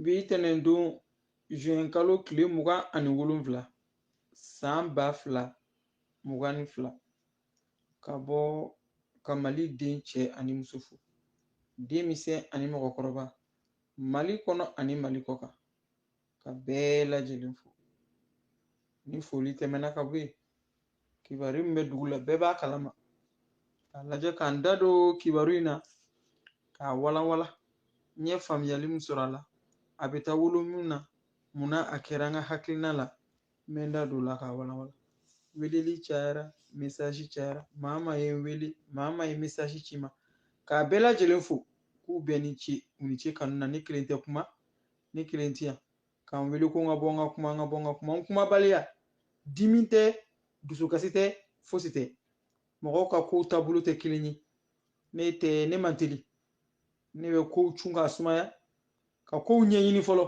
Bi tɛnɛndon zuwɛnkalo tile mugan ani wolonwula san ba fila mugan ni fila ka bɔ ka mali den cɛ ani muso fo denmisɛn ani mɔgɔkɔrɔba mali kɔnɔ ani mali kɔ kan ka bɛɛ lajɛlen fo ni foli tɛmɛna ka bɔ yen kibaru min bɛ dugu la bɛɛ b'a kalama k'a lajɛ ka n da don kibaru in na k'a walawala n ye faamuyali min sɔrɔ a la a bɛ taa wolo min na munna a kɛra an ka hakilina la n bɛ n da don o la k'a walawala weleli cayara mesasi cayara maa min ye n wele maa min ye mesasi ci n ma k'a bɛɛ lajɛlen fo k'u bɛɛ ni ce u ni ce kanu na ne kelen tɛ kuma ne kelen ti yan ka n wele ko n ka bɔ n ka kuma n ka bɔ n ka kuma n kumabaliya dimi tɛ dusukasi tɛ fosi tɛ mɔgɔw ka kow taabolo tɛ kelen ye ne tɛ ne man teli ne bɛ kow cun k'a sumaya ka kow ɲɛɲini fɔlɔ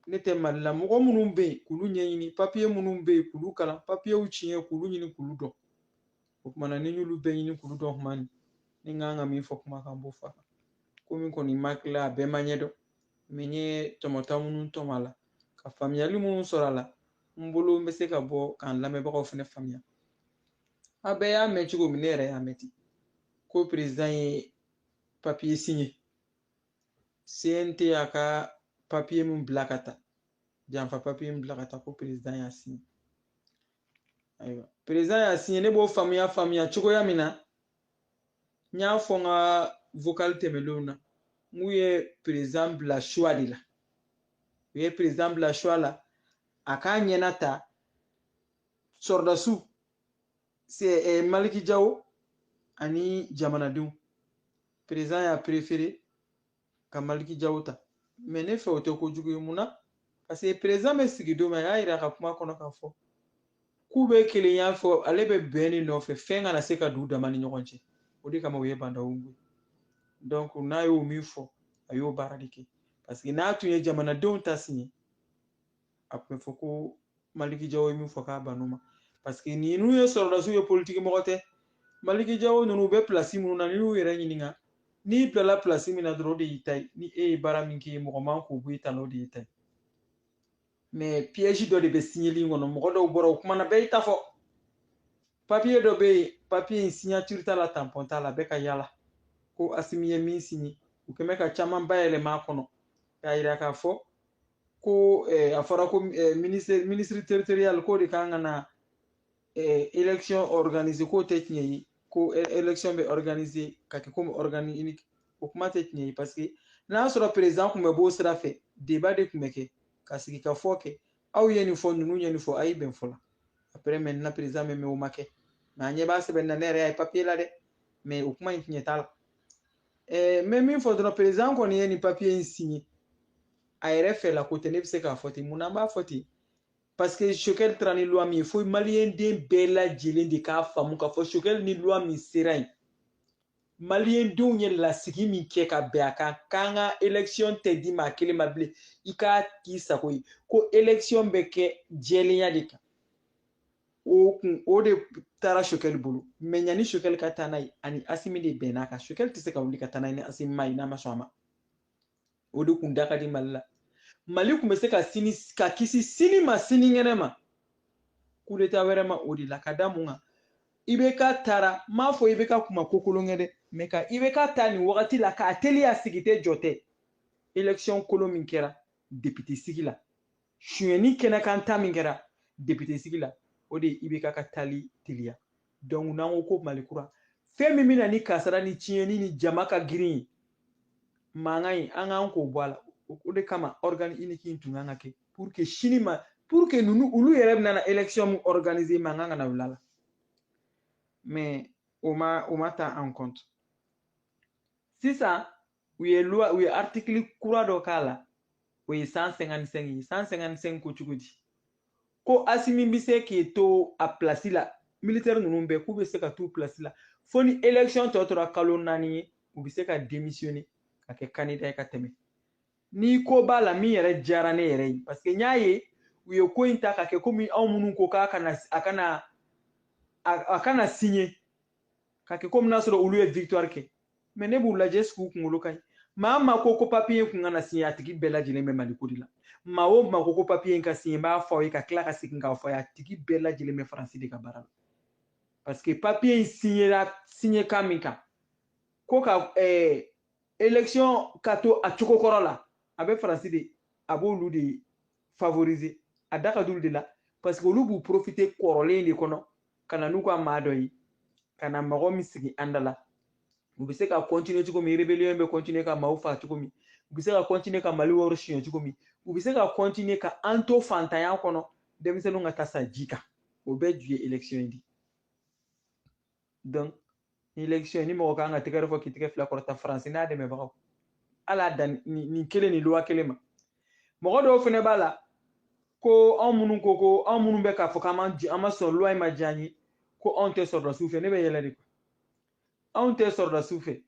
ne tɛ mali la mɔgɔ minnu bɛ yen k'olu ɲɛɲini papiye minnu bɛ yen k'olu kalan papiyew tiɲɛ k'olu ɲini k'olu dɔn o kuma na ni y'olu bɛɛ ɲini k'olu dɔn kuma min ni n kan ka min fɔ kuma kan n b'o fɔ a kan komi ko nin ma kila a bɛɛ ma ɲɛdɔn mɛ n ye tɔmɔta minnu tɔmɔ a la ka faamuyali minnu sɔrɔ a la n bolo n bɛ se ka bɔ k'an lamɛnbagaw fana faamuya a bɛɛ y'a mɛn cogo min ne yɛrɛ y'a mɛn ten ko perezan ye papiye siɲɛ CNT y'a ka papiye min bila ka taa janfa papiye min bila ka taa ko perezan y'a siɲɛ ayiwa perezan y'a siɲɛ ne b'o faamuya faamuya cogoya min na n y'a fɔ n ka vocal tɛmɛnlenw na n k'u ye perezan bila choix de la u ye perezan bila choix la a k'a ɲɛna ta sɔrɔdasiw eh, maliki jawo ani jamanadenw perezan y'a préféré ka maliki jaw ta mɛ ne fɛ o tɛ kojugu ye mun na paseke perezan bɛ sigi don min a y'a yira a ka kuma kɔnɔ k'a fɔ k'u bɛ kelenya fɔ ale bɛ bɛn de nɔfɛ fɛn kana se ka don u dama ni ɲɔgɔn cɛ o de kama u ye ba ndaw wuli donc n'a y'o min fɔ a y'o baara de kɛ parce que n'a tun ye jamanadenw ta siɲɛ a tun bɛ fɔ ko maliki jaw ye min fɔ k'a ban'o ma paseke ninnu ye sɔrɔdasiw ye politiki mɔgɔ tɛ maliki jaw ninnu u bɛ pilasi minnu na n'i y'u yɛrɛ ɲininka n'i bilala pilasi min na dɔrɔn o de y'i ta ye ni e ye baara min k'i ye mɔgɔ man k'o bɔ i ta la o de y'i ta ye mɛ piyɛzi dɔ de bɛ siɲɛli in kɔnɔ mɔgɔ dɔw bɔra u kumana bɛɛ y'i ta fɔ papiye dɔ bɛ yen papiye in siɲatiri t'a la tanpɔn t'a la bɛ ka yaala ko asimi ye min siɲɛ u kɛn bɛ ka caman bayɛlɛma a kɔnɔ k'a yira k'a fɔ ko eh, a fɔra ko eh, ministre ministre territorial k'o de kan ka na eh, élection organiser k'o tɛ tiɲɛ ye ko e- élection bɛ organiser ka kɛ komi organe unique o kuma tɛ tiɲɛ ye parce que n'a y'a sɔrɔ président tun bɛ b'o sira fɛ débat de tun bɛ kɛ ka sigi ka fɔ kɛ aw ye nin fɔ ninnu ye nin fɔ a ye bɛn fɔlɔ après maintenant président bɛ mɛn o ma kɛ mais an ɲɛ b'a sɛbɛn na ne yɛrɛ y'a ye papier la dɛ mais o kuma in tiɲɛ t'a la ɛɛ n bɛ min fɔ dɔrɔn perezan kɔni ye nin papiye in siɲɛ a yɛrɛ fɛ la ko tɛ ne bɛ se k'a fɔ ten mun na an b'a fɔ ten paseke choguel taara ni luwa min ye fo maliyɛn den bɛɛ lajɛlen de k'a faamu k'a fɔ choguel ni luwa min sera yen maliyɛn denw ye lasigi min kɛ ka bɛn a kan k'an ka élection tɛ di maa kelen ma bilen i k'a k'i sago ye ko élection bɛ kɛ jɛlenya de kan o kun o de taara choguel bolo mais yanni choguel ka taa n'a ye ani asimi de bɛnn'a kan choguel tɛ se ka wuli ka taa n'a ye ni asimi ma ye n'a ma sɔn a ma o de kun da ka di mali la mali kun bɛ se ka sini ka kisi sini ma sinikɛnɛ ma coup d'état wɛrɛ ma o de la ka da mun kan ibk taara n m'a fɔ ibk kun ma ko kolon kɛ dɛ mais ka ibk ta nin wagati la k'a teliya sigi tɛ jɔ tɛ élection kolon min kɛra depite sigi la suyɛnni kɛnɛkan ta min kɛra depite sigi la o de ye ibk ka taali teliya donc n'an ko ko mali kura fɛn min bɛ na ni kasara ni tiɲɛni ni jama ka girin ye mankan ye an kan k'o bɔ a la o de kama organe unique in tun kan ka kɛ pour que sini ma pour que ninnu olu yɛrɛ bɛna na élection min organiser mankan kana wuli a la mais o ma o ma ta en compte sisan u ye loi u ye article kura dɔ k'a la o ye 155 ye 155 ko cogo di ko asimi bɛ se k'i to a pilasi la militaire ninnu bɛɛ k'u bɛ se ka t'u pilasi la fo ni élection tɔ tora kalo naani ye u bɛ se ka démissionner ka kɛ candidat ye ka tɛmɛ ni ko b'a la min yɛrɛ diyara ne yɛrɛ ye parce que n y'a ye u ye ko in ta ka kɛ komi anw minnu ko k'a kana a kana a kana signer ka kɛ komi n'a sɔrɔ olu ye victoire kɛ mais ne b'u lajɛ est-ce que u kunkolo ka ɲi maa o maa ko ko papiye kun kana siɲɛ a tigi bɛɛ lajɛlen bɛ mali ko de la maa o maa ko ko papiye in ka siɲɛ n b'a fɔ aw ye ka tila ka segin k'a fɔ a ye a tigi bɛɛ lajɛlen bɛ faransi de ka baara la parce que papiye in siɲɛra siɲɛ kan min kan ko ka eh, élection ka to a cogo kɔrɔ la a bɛ faransi de a b'olu de favoriser a da ka d'olu de la parce que olu b'u profiter kɔrɔlen de kɔnɔ ka na n'u ka maa dɔ ye ka na mɔgɔ min sigi an da la u bɛ se ka continuer cogo min rébellion bɛ continuer ka maaw faa cogo min u bɛ se ka continuer ka mali wari suɲɛ cogo min u bɛ se ka continuer ka an to fantanya kɔnɔ denmisɛnninw ka taa sa ji kan o bɛɛ ju ye élection in de ye donc ni élection ni mɔgɔ kan ka tɛgɛrɛ fɔ k'i tɛgɛ fila kɔrɔta faransi n'a dɛmɛbagaw ala dan nin kelen ni loi kelen ma mɔgɔ dɔw fɛnɛ b'a la ko anw minnu ko ko anw minnu bɛ k'a fɔ k'an man an ma sɔn loi in ma diya an ye ko anw tɛ sɔrɔdasiw fɛ ne bɛ yɛlɛ de anw tɛ sɔrɔdasiw fɛ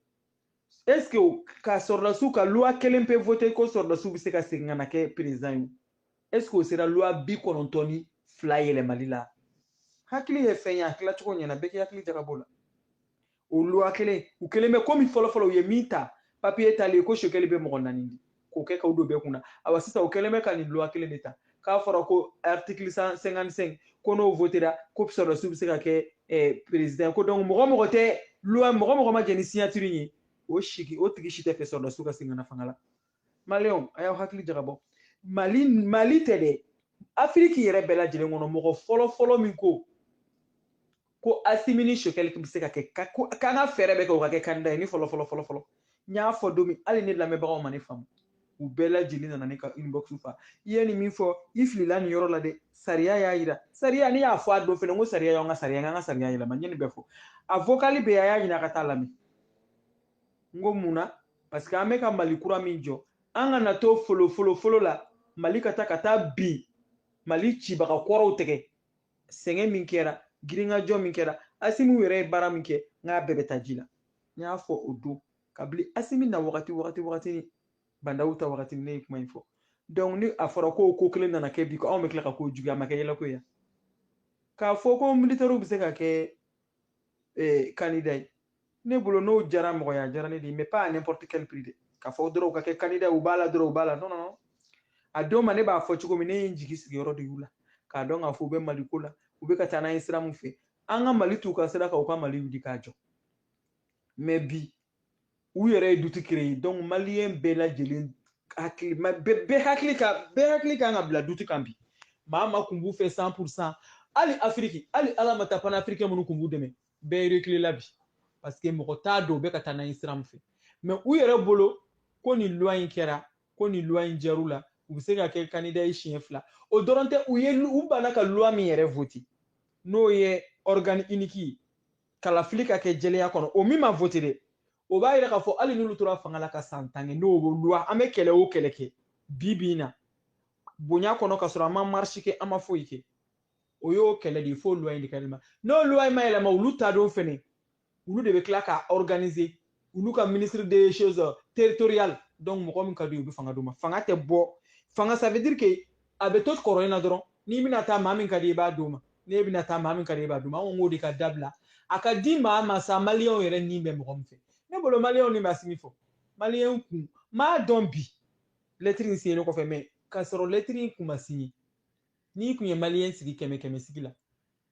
est ce que ka sɔrɔdasiw ka loi kelen pe vote ko sɔrɔdasiw bɛ se ka segin ka na kɛ président ye est ce que o sera loi bi kɔnɔntɔn ni fila yɛlɛmali la hakili ye fɛn ye a tilacogo ɲɛna bɛɛ k'i hakili jagabɔ la o loi kelen u kɛlen bɛ komi fɔlɔfɔlɔ u ye min ta papiye talen ko sokɛli bɛ mɔgɔ naani di k'o kɛ k'o don bɛɛ kunna awa sisan u kɛlen bɛ ka nin loi kelen de ta k'a fɔra ko article 155 ko n'o votera ko sɔrɔdasiw bɛ se ka kɛ eh, président ko donc mɔgɔ mɔgɔ tɛ loi mɔgɔ mɔgɔ ma jɛ ni signature ye o sigi o tigi si tɛ fɛ sɔrɔdasiw ka segin ka na fanga la maliyɛnw a y'aw hakili jagabɔ mali mali tɛ dɛ afiriki yɛrɛ bɛɛ lajɛlen kɔnɔ mɔgɔ fɔlɔ fɔlɔ min ko ko asimi ni sokɛli bɛ se ka kɛ k'an ka fɛɛrɛ bɛɛ kɛ u ka kɛ kandida ye ne fɔlɔ fɔlɔ fɔlɔ fɔlɔ n y'a fɔ don min hali ne lamɛnbagaw ma ne faamu u bɛɛ lajɛlen nana ne ka inbox fa i ye nin min fɔ i filila nin yɔrɔ la dɛ sariya y'a yira sariya ne y'a fɔ a don fɛnɛ ko sariya y'an ka sariya an ka sariya yɛlɛma n ye nin bɛɛ fɔ a vokali bɛ a y'a ɲini a ka taa lamɛn n ko mun na parce que an bɛ ka mali kura min jɔ an kana to folo folo folo la mali ka taa ka taa bin mali cibaga kɔrɔw tɛgɛ sɛgɛn min kɛra girinkajɔ min kɛra asimi yɛrɛ ye baara min kɛ n k'a bɛɛ bɛ taa ji la n y'a fɔ o don kabili asimi na wagati wagati wagati ni ba ndaw ta wagati ne ye kuma in fɔ donc ni a fɔra ko ko kelen nana kɛ bi ko anw bɛ tila ka ko juguya a ma kɛ yɛlɛko ye k'a fɔ ko militɛriw bɛ se ka kɛ eh, candidat ye ne bolo n'o jara mɔgɔ ye a jara ne de ye mais pas à n'importe quel prix dɛ k'a fɔ dɔrɔn u ka kɛ candidat u b'a la dɔrɔn u b'a la non non a don ma ne b'a fɔ cogo min ne ye n jigi sigi yɔrɔ de y'u la k'a dɔn k'a fɔ u bɛ mali ko la u bɛ ka taa n'an ye sira min fɛ an ka mali t'u ka sira kan u ka mali wuli k'a jɔ mais bi u yɛrɛ ye doute créer donc maliyɛn bɛɛ lajɛlen hakili bɛɛ hakili ka bɛɛ hakili kan ka bila doute kan bi maa maa kun b'u fɛ cent pour cent hali afiriki hali ala ma taa panafricain minnu kun b'u dɛmɛ bɛɛ rekilela bi parce que mɔgɔ t'a dɔn u bɛ ka taa n'an ye sira min fɛ mais u yɛrɛ bolo ko nin loi in kɛra ko nin loi in jar'u la u bɛ se ka kɛ kandida ye siɲɛ fila o dɔrɔn tɛ u ye u banna ka loi min yɛrɛ vote n'o ye organe unique ye kalafili ka kɛ jɛlenya kɔnɔ o min ma vote dɛ o b'a yira k'a fɔ hali n'olu tora fanga la ka san tan kɛ n'o loi an bɛ kɛlɛ o kɛlɛ kɛ bi bi in na bonya kɔnɔ ka sɔrɔ an ma marisi kɛ an ma foyi kɛ o y'o kɛlɛ de ye fo loi in de ka yɛlɛma n'o loi in ma yɛlɛma olu ta don fɛnɛ olu de bɛ tila k'a organiser olu ka ministre des choses territoriales donc mɔgɔ min ka di u bɛ fanga d'u ma fanga tɛ bɔ fanga ça veut dire que a bɛ to kɔrɔ in na dɔrɔn n'i bɛna taa maa min ka di i b'a d'o ma n'e bɛna taa maa min ka di i b'a d'o ma an k'o de ka dabila a ka di maa ma sa maliyɛnw yɛrɛ ni bɛ mɔgɔ min fɛ ne bolo maliyɛnw ni bɛ asimi fɔ maliyɛnw kun m'a dɔn bi lɛtiri in siɲɛnen kɔfɛ mɛ k'a sɔrɔ lɛtiri in kun ma siɲɛ n'i kun ye maliyɛn sigi kɛmɛ kɛmɛ sigi la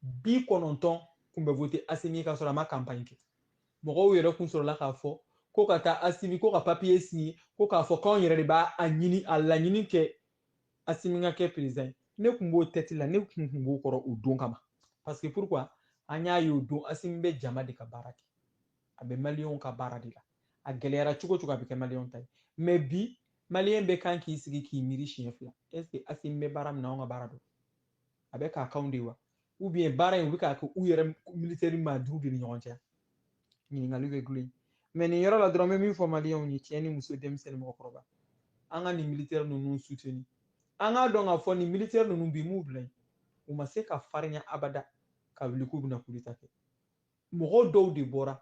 bi kɔnɔntɔn kun bɛ vote asimi ye k'a sɔrɔ a ma campagne kɛ mɔgɔw yɛrɛ kun sɔrɔla k'a fɔ ko ka taa asimi ko ka papiye siɲɛ ko k'a fɔ k'anw yɛrɛ de b'a a ɲini a laɲini kɛ asimi ka kɛ perezidan ye ne kun b'o tɛti la ne kun kun b'o kɔrɔ o don kama parce que pourquoi an y'a ye o don asimi bɛ jama de ka baara kɛ a bɛ maliyɛnw ka baara de la a gɛlɛyara cogo cogo a bɛ kɛ maliyɛnw ta ye mɛ bi maliyɛn bɛ kan k'i sigi k'i miiri siɲɛ fila ɛseke asimi bɛ baara min na anw ka baara don a bɛ k'a k'anw de wa ou bien baara in u bɛ k'a kɛ u yɛrɛ militɛri maa duuru de ni ɲɔgɔn cɛ ɲininkali bɛ gulon mɛ nin yɔrɔ la dɔrɔn n bɛ min fɔ maliyɛnw ye cɛ ni muso denmisɛnnin mɔgɔkɔrɔba an ka nin militɛri ninnu suteni an k'a dɔn k'a fɔ nin militɛri ninnu bi m'u bila yen u ma se ka farinya abada ka wuli k'u bɛna kudeta kɛ mɔgɔw dɔw de bɔra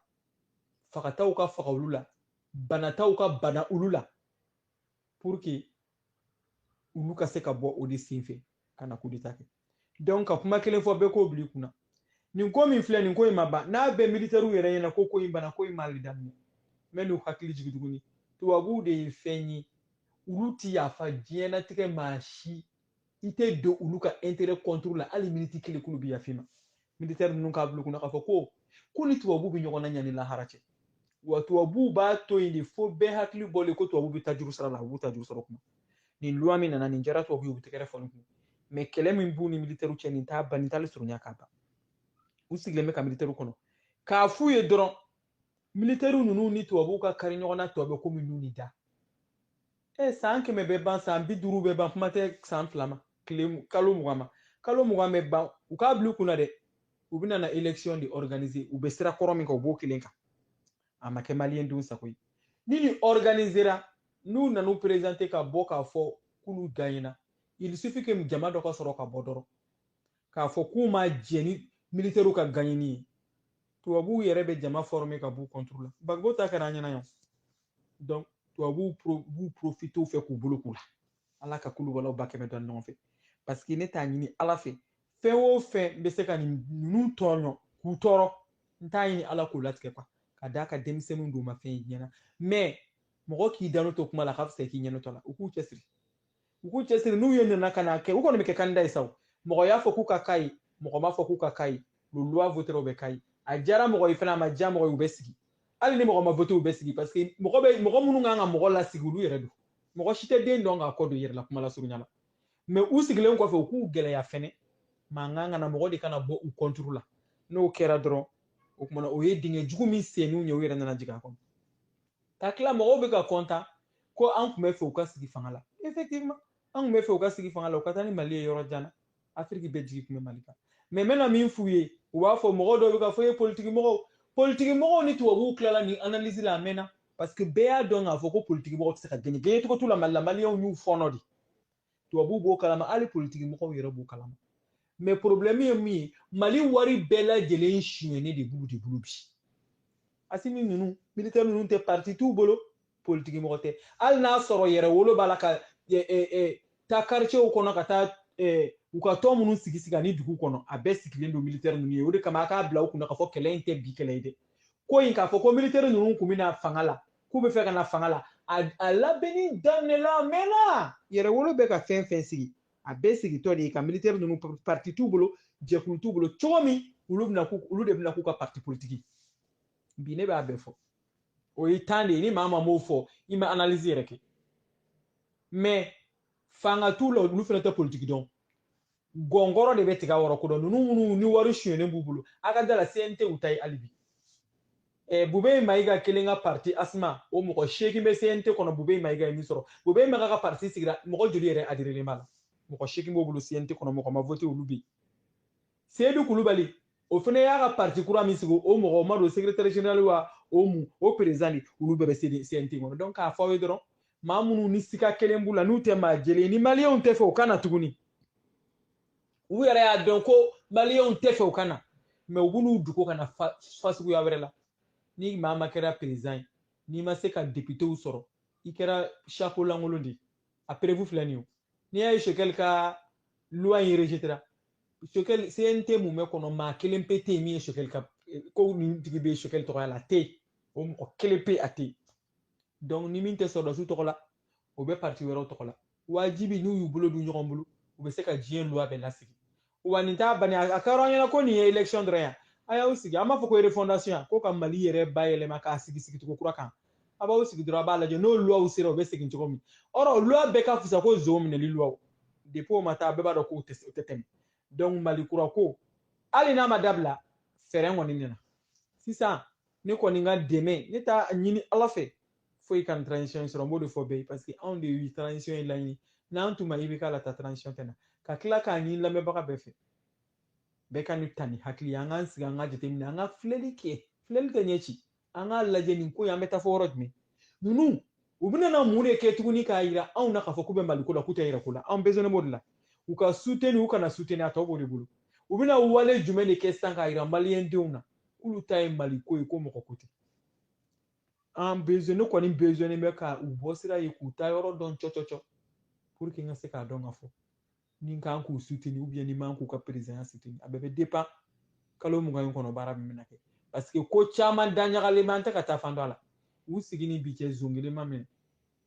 fagataw ka faga olu la banataw ka bana olu la pour que olu ka se ka bɔ o de sen fɛ ka na kudeta kɛ donc ka kuma kelen fɔ bɛɛ k'o bila i kunna nin ko min filɛ nin ko in ma ban n'a bɛ militɛriw yɛrɛ ɲɛna ko ko in bana ko in ma hali daminɛ n bɛ n'u hakili jigin tuguni tubabuw de ye fɛn ye olu ti yafa diɲɛnatigɛ maa si i tɛ don olu ka intérêt contre la hali miniti kelen k'olu bɛ yafa i ma militaire ninnu k'a bila u kunna k'a fɔ ko k'u ni tubabuw bɛ ɲɔgɔn na yan ni lahara cɛ wa tubabuw b'a to yen de fo bɛɛ hakili bɔlen ko tubabuw bɛ ta juru sara la u b'u ta juru sara kuma nin loi min nana nin diyara tubabu ye u bɛ tɛgɛrɛ fɔ nin kun mɛ kɛlɛ min b'u ni militɛriw cɛ nin t'a ban nin t'ale surunya k'a ban u sigilen bɛ ka militɛriw kɔnɔ k'a f'u ye dɔrɔn militɛriw ninnu ni tubabuw ka kari ɲɔgɔn na tɔ bɛ komi nun ni da e san kɛmɛ bɛ ban san bi duuru bɛ ban kuma tɛ san fila ma kalo mugan ma kalo mugan bɛ ban u k'a bila u kunna dɛ u bɛna na election de organiser u bɛ sira kɔrɔ min kan u b'o kelen kan a ma kɛ maliyɛn denw sago ye ni nin organisera n'u nan'u présenter ka bɔ k'a fɔ k'olu gagnera il suffit que jama dɔ ka sɔrɔ ka bɔ dɔrɔn k'a fɔ k'u ma jɛn ni militaires ka gagner ye tubabuw yɛrɛ bɛ jama former ka b'u contre la gbagbo ta kɛra an ɲɛna yan donc tubabuw b'u profite o fɛ k'u bolo k'u la ala ka kulu walaw ba kɛmɛ dɔn ɲɔgɔn fɛ parce que ne t'a ɲini ala fɛ fɛn o fɛn bɛ se ka nin ninnu tɔɲɔ k'u tɔɔrɔ n t'a ɲini ala k'o latigɛ kuwa ka d'a kan denmisɛnninw don ma fɛn ɲɛna mɛ mɔgɔ k'i da nɔ to kuma la ka fisa k'i ɲɛ nɔ to a la u k'u cɛsiri u k'u cɛsiri n'u ye nana ka n'a kɛ u kɔni bɛ kɛ candidat ye sa o mɔgɔ y'a fɔ k'u ka k'a ye mɔgɔ m'a fɔ k'u ka k'a ye le loi votera u bɛ k'a ye a diyara mɔgɔ ye fana a ma diya mɔgɔ ye u bɛ sigi hali ni mɔgɔ ma vote u bɛ sigi parce que mɔgɔ bɛ mɔgɔ minnu kan ka mɔgɔ lasigi olu yɛrɛ don mɔgɔ si tɛ den dɔn k'a kɔ don yɛrɛ la kuma lasurunya la mais u sigilen kɔfɛ u k'u gɛlɛya fɛnɛ mankan kana mɔgɔ de kana bɔ u contre la n'o kɛra dɔrɔn o tuma na o ye dingɛ jugu min sen nin ye u yɛrɛ nana jigin a kɔnɔ ka tila mɔgɔw bɛ ka kɔntan ko an tun bɛ fɛ u ka sigi fanga la effectivement an tun bɛ fɛ u ka sigi fanga la u ka taa ni mali ye yɔrɔ jan na afiriki bɛɛ jigi tun bɛ mali kan mais n bɛna min f'u ye u b'a fɔ mɔgɔ dɔw bɛ k'a fɔ ye politiki mɔgɔw politiki mɔgɔw ni tubabuw tilala nin analyse la a mɛnna parce que bɛɛ y'a dɔn k'a fɔ ko politiki mɔgɔ tɛ se ka gagner gagner cogo t'u la mali la maliyɛnw y'u fɔɔnɔ de tubabu b'o kalama hali politiki mɔgɔw yɛrɛ b'o kalama mais porobilɛmu ye min ye mali wari bɛɛ lajɛlen sonyɛnen de b'olu de bolo bi asimi ninnu militɛri ninnu tɛ parti t'u bolo politiki mɔgɔ tɛ hali n'a sɔrɔ yɛrɛwolo b'a la ka taa karicɛw kɔnɔ ka taa u ka tɔn minnu sigi sigi ani dugu kɔnɔ a bɛɛ sigilen don militɛri ninnu ye o de kama a k'a bila u kun na k'a fɔ kɛlɛ in tɛ bi kɛlɛ ye dɛ ko in k'a fɔ ko militɛri ninnu k'u bɛ na fanga la k'u bɛ fɛ ka na fanga la a labɛnni daminɛla a mɛnna yɛrɛwolo bɛ ka fɛn fɛn sigi a bɛɛ sigitɔ de ye ka militɛri ninnu parti t'u bolo jɛkulu t'u bolo cogo min olu bɛna k'u olu de bɛna k'u ka parti politiki bi ne b'a bɛɛ fɔ aw ye tan de ye ni maa maa m'o fɔ i ma analyse yɛrɛ kɛ mais fanga t'u la olu fana tɛ politiki dɔn gɔngɔrɔ de bɛ tiga wɔrɔ ko dɔn ninnu minnu ni wari sunyɛnen b'u bolo a ka da a la cnt u ta ye hali bi eh, bube mayiga kelen ka parti asma o mɔgɔ seegin bɛ cnt kɔnɔ bube mayiga ye min sɔrɔ bube mayiga ka parti sigira mɔgɔ joli yɛrɛ adhérélen b'a la mɔgɔ seegin b'o bolo cnt kɔnɔ mɔgɔ ma vote olu bɛ yen seyidu kulubali o fana y'a ka parti kura min sigi o mɔgɔ n m'a dɔn secrétaire général wa o mun o président de olu bɛɛ bɛ CNT kɔnɔ donc k'a fɔ aw ye dɔrɔn maa minnu ni siga kɛlen b'u la n'u tɛ maa jɛlen ye ni maliyɛnw tɛ fɛ u ka na tuguni u yɛrɛ y'a dɔn ko maliyɛnw tɛ fɛ u ka na mais u b'u dogo ka na fasuguya wɛrɛ la ni maa ma kɛra président ye n'i ma se ka depitew sɔrɔ i kɛra chapeau lankolon de ye a preuve filɛ nin ye n'i y'a ye choguel ka luwa in rejetera choguel cnt mun bɛ kɔnɔ maa kelen pe tɛ yen min ye choguel ka ko nin tigi bɛ choguel tɔgɔya la a tɛ o mɔgɔ kelen pe a tɛ donc ni min tɛ sɔrɔdasiw tɔgɔ la o bɛ parti wɛrɛw tɔgɔ la wajibi n'u y'u bolo don ɲɔgɔn bolo u bɛ se ka diɲɛ luwa bɛɛ lasigi wa nin t'a bani a kɛra an ɲɛna ko nin ye élection dɔrɔn ye a y'aw sigi an b'a fɔ ko refondation ko ka mali yɛrɛ bayɛlɛma k'a sigi sigi cogo kura kan a b'aw sigi dɔrɔn a b'a lajɛ n'o luwaw sera u bɛ segin cogo min or luwa bɛɛ ka fisa ko zon minɛli luwaw depuis o ma taa bɛɛ b'a dɔn k'u tɛ tɛmɛ donc mali kura ko hali n'a ma dabila fɛɛrɛ kɔni nana sisan ne kɔni ka dɛmɛ ne t'a ɲini ala fɛ foyi kana transition sɔrɔ n b'o de fɔ bɛɛ ye parce que anw de ye transition in laɲini n'an tun ma IBK la ta transition tɛ na ka tila k'a ɲini lamɛnbaga bɛɛ fɛ bɛɛ ka nin ta ni hakili an k'an sigi an ka jateminɛ an ka filɛli kɛ filɛli tɛ ɲɛ ci an k'a lajɛ nin ko in an bɛ taa fo yɔrɔ jumɛn ninnu u bɛna na mun de kɛ tuguni k'a jira anw na k'a fɔ k'u bɛ Mali ko la k'u tɛ yɛrɛ ko la anw besoinnen b'o de la u ka soutenir u kana soutenir a tɔ b'o de bolo u bɛna wale jumɛn de kɛ sisan k'a jira maliyɛn denw na k'olu ta ye Mali ko ye ko mɔgɔ ko tɛ an besoin ne kɔni besoinnen bɛ ka u bɔ sira ye k'u taa yɔrɔ dɔn cɔcɔcɔ pour que n ka se k'a dɔn k'a fɔ ni n kan k'u soutenir ou bien ni n man k'u ka perezidanya soutenir a bɛɛ bɛ dépend kalo mugan in kɔnɔ baara min bɛna kɛ parce que ko caman da ɲagalen bɛ an tɛ ka taa fan dɔn a la u sigi ni bi cɛ zon kelen ma minɛ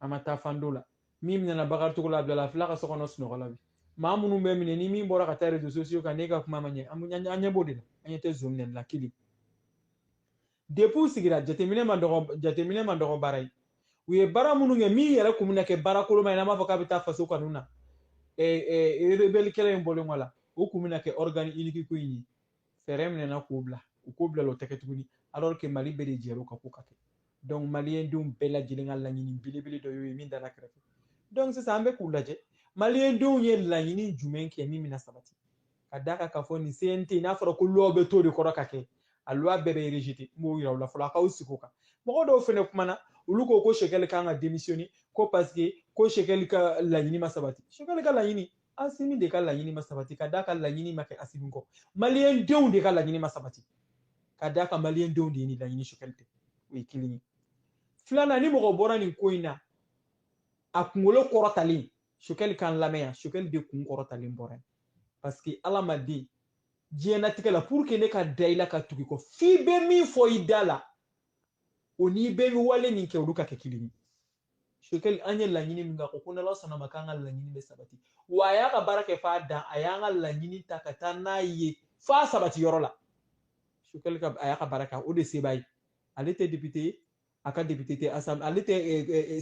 a ma taa fan dɔ la min minɛna Bakari Togola a bilala a filɛ a ka so kɔnɔ sunɔgɔ la bi maa minnu bɛ minɛ ni min bɔra ka taa réseaux sociaux kan n'e ka kuma ma ɲɛ an ɲɛ b'o de la an ɲɛ tɛ zon minɛli la kelen depuis u sigira jateminɛ ma dɔgɔ jateminɛ ma dɔgɔ baara ye u ye baara minnu kɛ min yɛrɛ kun bɛna kɛ baara koloma ye n'an b'a fɔ k'a bɛ taa faso kanu na rebelle kɛlɛ in bɔlen kɔ la o kun bɛna kɛ organe unique ko in ye fɛɛrɛ minɛna k'o bila u k'o bila o tɛ kɛ tuguni alors que mali bɛɛ de jɛr'o kan k'o ka kɛ donc maliyɛn denw bɛɛ lajɛlen ka laɲini belebele dɔ y'o ye min dara kɛrɛfɛ donc sisan an bɛ k'u lajɛ maliyɛn denw ye laɲini jumɛn kɛ min bɛna sabati ka d'a kan k'a fɔ nin CNT n'a fɔra ko loi bɛ to de kɔrɔ ka kɛ a loi bɛɛ bɛ rejeter n b'o yira u la fɔlɔ a k'aw sigi o kan mɔgɔ dɔw fɛnɛ kumana olu ko ko Shekɛli kan ka démissionner ko parce que ko Shekɛli ka laɲini ma sabati Shekɛli ka laɲini Asimi de ka laɲini ma sabati ka d'a kan laɲini ma kɛ Asimi kɔ maliyɛn denw de ka laɲini ma sabati ka d'a kan maliyɛn denw de ye nin laɲini Shekɛli tɛ o ye kelen ye filanan ni mɔgɔ bɔra nin ko in na a kunkolo kɔrɔtalen sokɛli kan lamɛn yan sokɛli de kun kɔrɔtalen bɔra yen parce que ala ma den diɲɛnatigɛ la pour que ne ka da i la ka tugu i kɔ f'i bɛ min fɔ i da la o n'i bɛ wale min kɛ olu ka kɛ kelen ye sokɛli an ye laɲini min kɛ ko n'ala sɔnna ma k'an ka laɲini bɛ sabati wa a y'a ka baara kɛ f'a dan a y'an ka laɲini ta ka taa n'a ye f'a sabati yɔrɔ la sokɛli ka a y'a ka baara kɛ o de se b'a ye ale tɛ député ye a ka député tɛ asam ale tɛ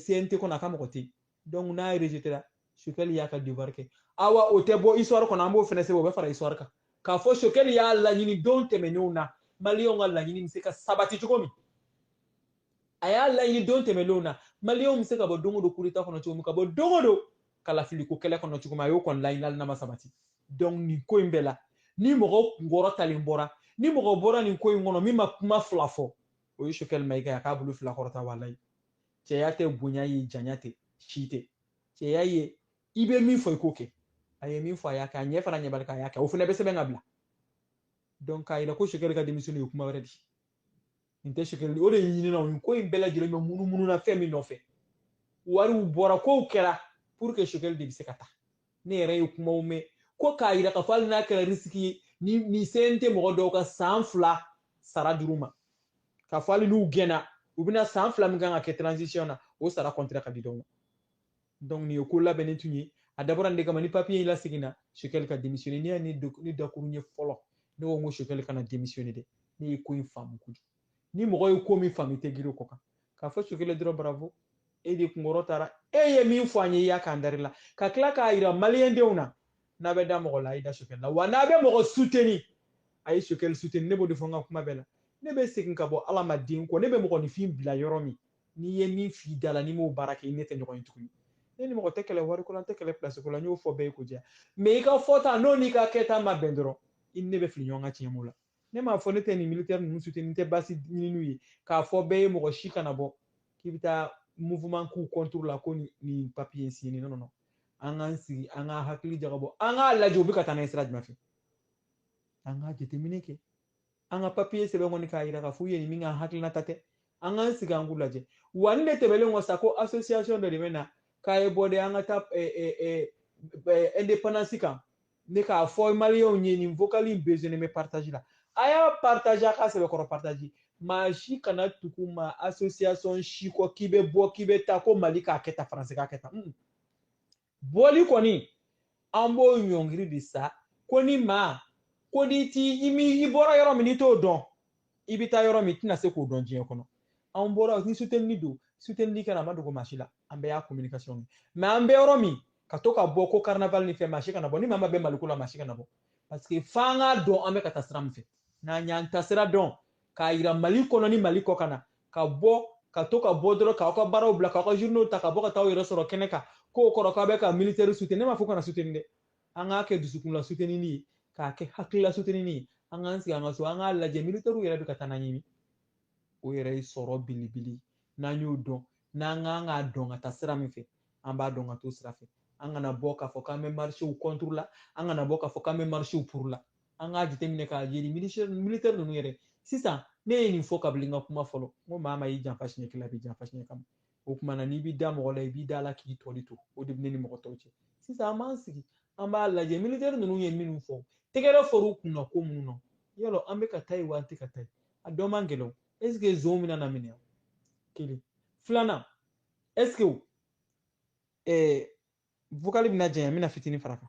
CNT kɔnɔ a ka mɔgɔ tɛ yen donc n'a ye rejeté la sokɛli y'a ka devoir kɛ awa o tɛ bɔ histoire kɔnɔ an b'o fɛnɛ sɛbɛn o bɛ fara histoire kan k'a fɔ sokɛli y'a laɲini don tɛmɛnenw na maliyɛnw ka laɲini bɛ se ka sabati cogo min a y'a laɲini don tɛmɛnenw na maliyɛnw bɛ se ka bɔ don o don coup d'état kɔnɔ cogo min ka bɔ don o don kalafiliko kɛlɛ kɔnɔ cogo min a y'o kɔni laɲini hali n'a ma sabati donc nin ko in bɛɛ la ni mɔgɔ kun kɔrɔtalen bɔra ni mɔgɔ bɔra nin ko in kɔnɔ min ma kuma fila fɔ o ye sokɛli Mayiga a k'a bolo fila kɔrɔta walayi cɛya tɛ bonya ye janya tɛ si tɛ cɛya ye i bɛ min fɔ i k'o kɛ a ye min fɔ a y'a kɛ a ɲɛ fara ɲɛbali kan a y'a kɛ o fana bɛ sɛbɛn ka bila donc k'a yira ko Choguel ka démissionner ye kuma wɛrɛ di nin tɛ Choguel o de ye ɲinina nin ko in bɛɛ lajɛlen bɛ munumunu na fɛn min nɔfɛ wariw bɔra kow kɛra pour que Choguel de bɛ se ka taa ne yɛrɛ ye kumaw mɛn ko k'a yira k'a fɔ hali n'a kɛra risiki ye ni CNT mɔgɔ dɔw ka san fila sara dir'u ma k'a fɔ hali n'u gɛnna u bɛna san fila min kan ka kɛ transition na o sara kɔntira ka di dɔw ma donc nin ye ko labɛnnen tun ye a dabɔra nin de kama ni papiye in laseginna Choguel ka démissionner ne ye ne dakuruɲɛ fɔlɔ ne ko n ko Choguel kana démissionner dɛ ne ye ko in faamu kojugu ni mɔgɔ ye ko min faamu i tɛ girin o kɔ kan k'a fɔ Choguel dɔrɔn bravo e de kunkɔrɔtara e ye min fɔ an ye i y'a k'an dari la ka tila k'a yira maliyɛndenw na n'a bɛ da mɔgɔ la a ye da Choguel la wa n'a bɛ mɔgɔ suteni a ye Choguel suteni ne b'o de fɔ n ka kuma bɛɛ la ne bɛ segin ka bɔ ala ma den kɔ ne bɛ mɔgɔninfin bila yɔrɔ min n'i ye min f'i da la n'i m'o baara kɛ i ne tɛ ɲɔgɔn ye tuguni ne ni mɔgɔ tɛ kɛlɛ wariko la n tɛ kɛlɛ pilasiko la n y'o fɔ bɛɛ ye ko diya mais i ka fɔta n'o n'i ka kɛta ma bɛn dɔrɔn i ni ne bɛ fili ɲɔgɔn kan tiɲɛ b'o la ne m'a fɔ ne tɛ nin militɛri ninnu suteni n tɛ basi ɲini n'u ye k'a fɔ bɛɛ ye mɔgɔ si kana bɔ k'i bɛ taa mouvement k'u contre la ko nin papier in signé non non an k'an sigi an ka hakili jagabɔ an k'a lajɛ u bɛ ka taa n'a ye sira jumɛn fɛ an ka jateminɛ kɛ an ka papiye sɛbɛn kɔni k'a yira k'a fɔ u ye nin min ka hakilinata tɛ an k'an sigi an k'u lajɛ wa nin de tɛmɛlen kɔ sa ko association dɔ de bɛ na k'a ye bɔ dɛ an ka taa indépendance kan ne k'a fɔ maliyɛnw ye nin vocali in besoinnen bɛ partage la a y'a partage a ka sɛbɛkɔrɔ partage maa si kana tugu ma association si kɔ k'i bɛ bɔ k'i bɛ taa ko mali k'a kɛ tan faransi k'a kɛ tan hmm. bɔli kɔni an b'o ɲɔngiri de sa ko ni maa ko n'i ti i mi i bɔra yɔrɔ min n'i t'o dɔn i bɛ taa yɔrɔ min i tɛna se k'o dɔn diɲɛ kɔnɔ anw bɔra ni sutenini don sutenini kɛra a ma dogo maa si la an bɛɛ y'a communication ye mais an bɛ yɔrɔ min ka to ka bɔ ko carnaval ni fɛn maa si kana bɔ ni maa mago bɛ maliko la maa si kana bɔ parce que f'an k'a dɔn an bɛ ka taa sira min fɛ n'an y'an ta sira dɔn k'a yira mali kɔnɔ ni mali kɔkanna ka bɔ ka to ka bɔ dɔrɔn k'aw ka baaraw bila k'aw ka journaux ta ka bɔ ka taa aw yɛrɛ sɔrɔ kɛnɛ kan k'o kɔrɔ k'aw bɛ ka militaire soutenir ne m'a fɔ kana soutenir dɛ an k'a kɛ dusukun la sutenini ye k'a kɛ hakilila sutenini ye an k'an sigi an ka so an k'a lajɛ militɛriw yɛrɛ bɛ ka taa n'an ye min o yɛrɛ ye sɔrɔ belebele n'an y'o dɔn n'an kan k'a dɔn ka taa sira min fɛ an b'a dɔn ka t'o sira fɛ an kana bɔ k'a fɔ k'an bɛ marisiw contre la an kana bɔ k'a fɔ k'an bɛ marisiw pour la an k'a jateminɛ k'a ye nin militɛri ninnu yɛrɛ sisan ne ye nin fɔ kabili n ka kuma fɔlɔ n ko maa min y'i janfa siɲɛ kelen a b'i janfa siɲɛ kɛmɛ o kuma na n'i b'i da mɔgɔ la i b'i d'a la k'i tɔli to o de bɛ ne ni mɔgɔ tɔw cɛ sisan an b'an sigi an b'a lajɛ militɛri ninnu ye minnu fɔ tɛgɛrɛ fɔr'u kunna ko minnu na yɔrɔ an bɛ ka taa yen wa an tɛ ka taa yen a dɔn man gɛlɛn o ɛsike zon bɛna na minɛ kelen filanan ɛsike ɛɛ vokali bɛna janya n bɛna fitinin far'a kan